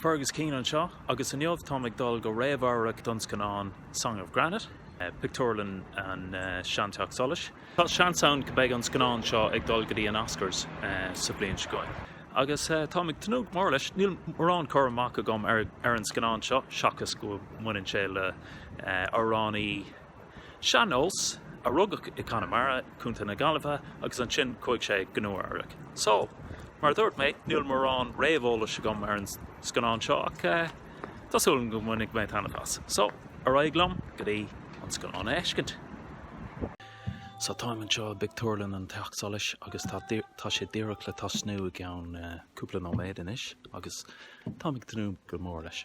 Fergus Keane anseo agus inniu táim ag dul go réamhamharc don scannán Song of Granite, pictiúrlann an Sean Teach Solais. Tá seans ann go beidh an scannán seo ag dul go dtí an Oscars sa bhliain seo chugainn agus táim ag tnúth go mór leis. Níl mórán chur amach agam ar an scannán seo seachas go mbaineann sé le amhránaí, Sean-nós, a rugadh i gConamara, Contae na Gaillimhe agus ansin chuaigh sé go Nua Eabhrac. So, mar a dúirt mé, níl mórán réamheolais agam ar an scannán seo ach tá súil agam go mbainfidh mé taitneamh as. So, ar aghaidh liom go dtí an scannán a fheiscint. So, táim anseo i bpictiúrlann an Teach Solais agus tá sé díreach le tosnú i gceann cúpla nóiméad anois agus táim ag tnúth go mór leis.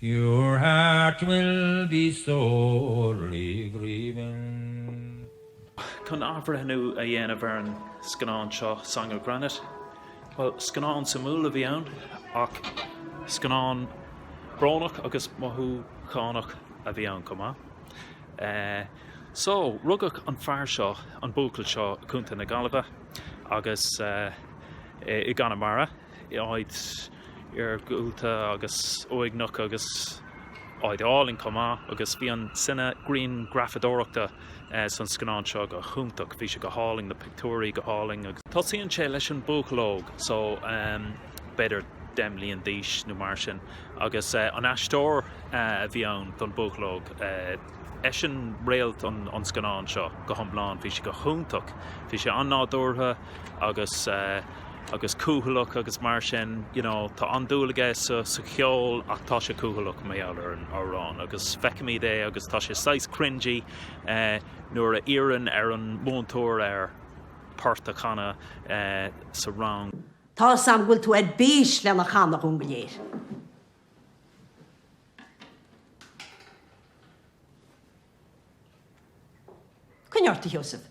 Your heart will be sorely grievin'. Chun athbhreithniú a dhéanamh ar an scannán seo, Song of Granite, bhuel, scannán suimiúil a bhí ann, ach scannán brónach agus mothúchánach a bhí ann chomh maith. Só, rugadh an fear seo, an buachaill seo, i gContae na Gaillimhe, agus i gConamara, áit iargúlta agus uaigneach agus áit álainn chomh maith agus bhí an cine-grianghrafadóireachta san scannán seo go hiontach, bhí sé go hálainn, na pictiúirí go hálainn. Tosaíonn sé leis an buachaill óg, so b'fhéidir deich mbliana d'aois nó mar sin agus an aisteoir a bhí ann don buachaill óg, eisean réalt an scannáin seo go hiomlán, bhí sé go hiontach, bhí sé an-nádúrtha agus. agus cúthaileach agus mar sin, you know, tá an-dúil aige sa cheol ach tá sé cúthaileach mar gheall ar an amhrán agus feicimid é agus tá sé saghas cringey nuair a iarrann ar an múinteoir air port a chanadh sa rang. Tá 'fhios a'm go bhfuil tú ar bís lena chanadh dhúinn go léir. Coinnigh ort, a Sheosaimh.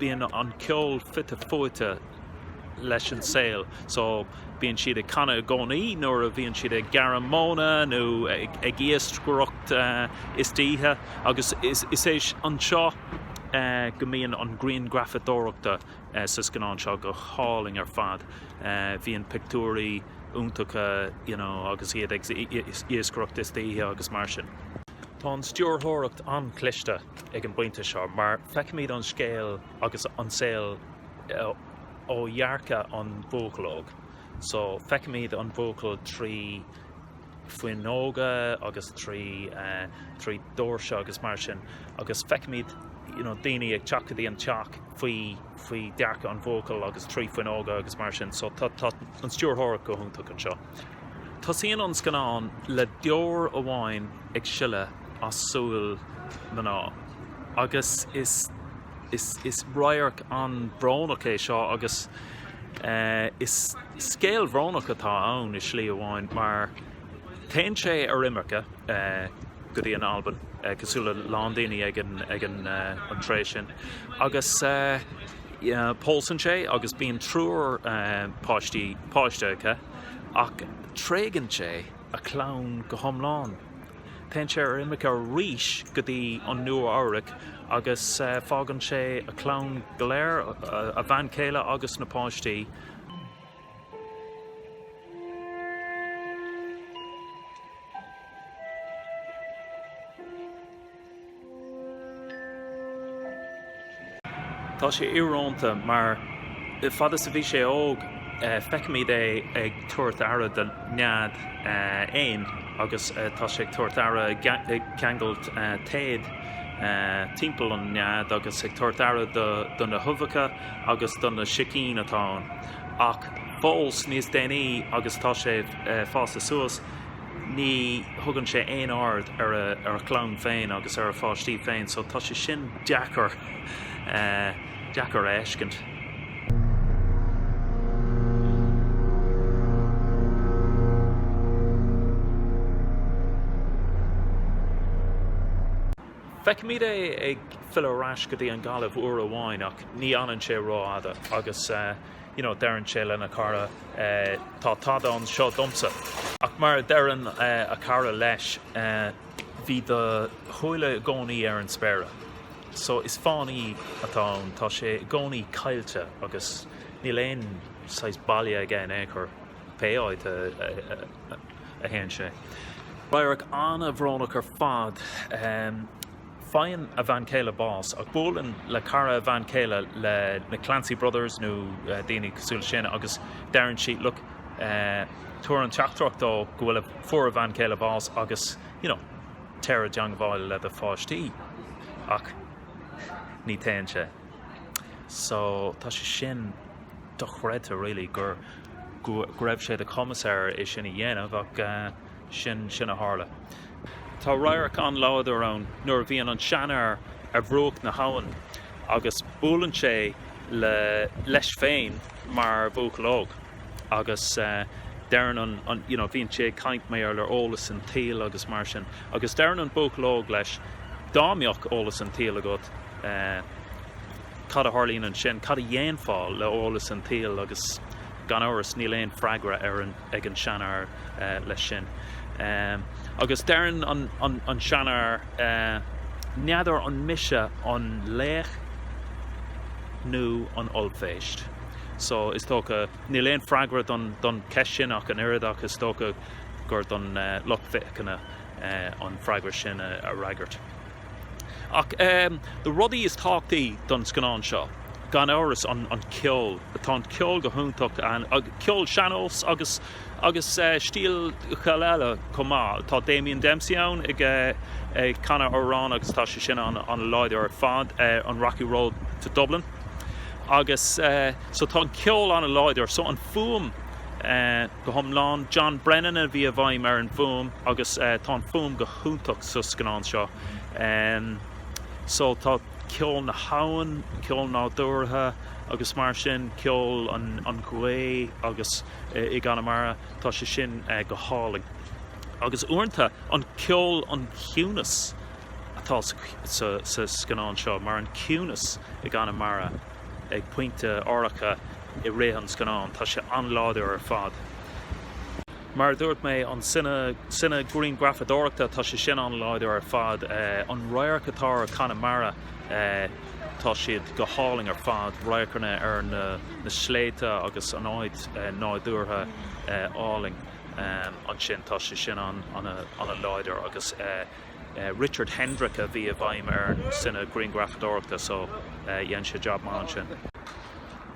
bíonn an ceol fite fuaite leis an saol so bíonn siad ag canadh i gcónaí nuair a bhíonn siad ag gearradh móna nó ag iascaireacht istoíche agus is é anseo go mbíonn an ghrianghrafadóireachta sa scannán seo go hálainn ar fad bíonn pictiúirí iontacha you know agus iad ag iascaireacht istoíche agus mar sin. Tá an stiúrthóireacht an-chliste ag an bpointe seo mar feicimid an scéal agus an saol ó dhearcadh an bhuachaill óig so feicimid an buachaill trí fuinneoga agus trí trí doirse agus mar sin agus feicimid you know daoine ag teacht go dtí an teach faoi faoi dhearcadh an bhuachaill agus trí fuinneoga agus mar sin so tá tá an stiúrthóireacht go hiontach anseo. Tosaíonn an scannán le deor amháin ag sileadh as súil mná agus is is radharc an-bhrónach é seo agus is scéal bhrónach atá ann i slí amháin mar téann sé ar imirce go dtí an Albain cosúil le a lán daoine ag an tréith sin agus Pósann sé agus bíonn triúr páistí, páistí aige ach tréigeann sé a chlann go hiomlán. Téann sé ar imirce arís go dtí an Nua-Eabhrac agus fágann sé a chlann go léir, a bhean chéile agus na páistí, Tá sé íorónta mar, fad is a bhí sé óg, feicimid é ag tabhairt aire do nead éin agus tá sé ag tabhairt aire, ag ceangailt téad timpeall an nead agus ag tabhairt aire do na huibheacha agus do na sicín atá ann. Ach fós níos déanaí agus tá sé fásta suas, ní thugann sé aon aird ar a chlann féin agus ar a pháistí féin so tá sé sin deacair, deacair a fheiscint. Feicimid é ag filleadh ar ais go dtí an Ghaillimh uair amháin ach ní fhanann sé rófhada agus. you know, deireann sé lena chara tá tada anseo domsa ach mar a deireann a chara leis bhí do shúile i gcónaí ar an spéire so is fánaí atá ann, tá sé i gcónaí caillte agus níl aon saghas baile aige in aon chor pé áit a théann sé. Radharc ana-bhrónach ar fad. Faigheann a bhean chéile bás ach buaileann le cara a bhean chéile le na Clancy Brothers nó daoine cosúil le sin agus deireann sí look tabhair an teachtaireacht dó go bhfuil a, fuair a bhean chéile bás agus you know téir i dteagmháil le do pháistí ach ní théann sé so tá sé sin dochreidte really gur, go raibh sé de chumas air é sin a dhéanamh ach eh, sin sin a tharla. Tá radharc an-láidir ann nuair a bhíonn an seanfhear ar bhruach na habhann agus buaileann sé le leis féin mar bhuachaill óg agus deireann an an you know bhíonn sé ag caint mar le eolas an tsaoil agus mar sin agus deireann an buachaill óg leis dá mbeadh eolas an tsaoil agat cad a tharlaíonn ansin cad a dhéanfá le eolas an tsaoil agus Gan amhras níl aon freagra ar an ag an seanfhear leis sin. Agus deireann an seanfhear, N'fheadar an mise an laoch nó an ollphéist? So is dócha, níl aon freagra don cheist sin ach an oiread ach is dócha gur don lucht féachana an freagra sin a fhreagairt. Ach na rudaí is tábhachtaí don scannán seo, gan amhras, an ceol. Tá an ceol go hiontach ann, ceol sean-nós agus agus stíleacha eile chomh maith. Tá Damien Dempsey ann ag canadh amhrán agus tá sé sin an-láidir ar fad, an Rocky Road to Dublin. Agus so tá an ceol an-láidir. So an fuaim go hiomlán, John Brennan a bhí i bhfeighil ar an bhfuaim agus tá an fuaim go. hiontach sa scannán seo. So tá ceol na habhann, ceol nádúrtha agus mar sin, ceol an ghaoth agus i gConamara tá sé sin go hálainn. Agus uaireanta an ceol, an ciúnas atá sa scannán seo, mar an ciúnas i gConamara ag pointe áirithe i rith an scannáin, tá sé an-láidir ar fad. Mar a dúirt mé, an cine-ghrianghrafadóireacht, tá sé sin an-láidir ar fad. An radharc atá ar Chonamara, tá siad go hálainn ar fad, radharcanna ar na sléibhte agus an áit nádúrtha álainn ansin, tá sé sin an-láidir agus, Richard Kendrick a bhí i bhfeighil ar an cine-ghrianghrafadóireacht so dhein sé jab maith ansin.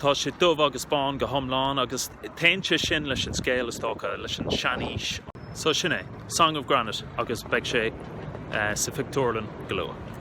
Tá sé dubh agus bán go hiomlán agus téann sé sin leis an scéal, is dócha, leis an seanaois. So sin é, Song of Granite agus beidh sé sa phictiúrlann go luath.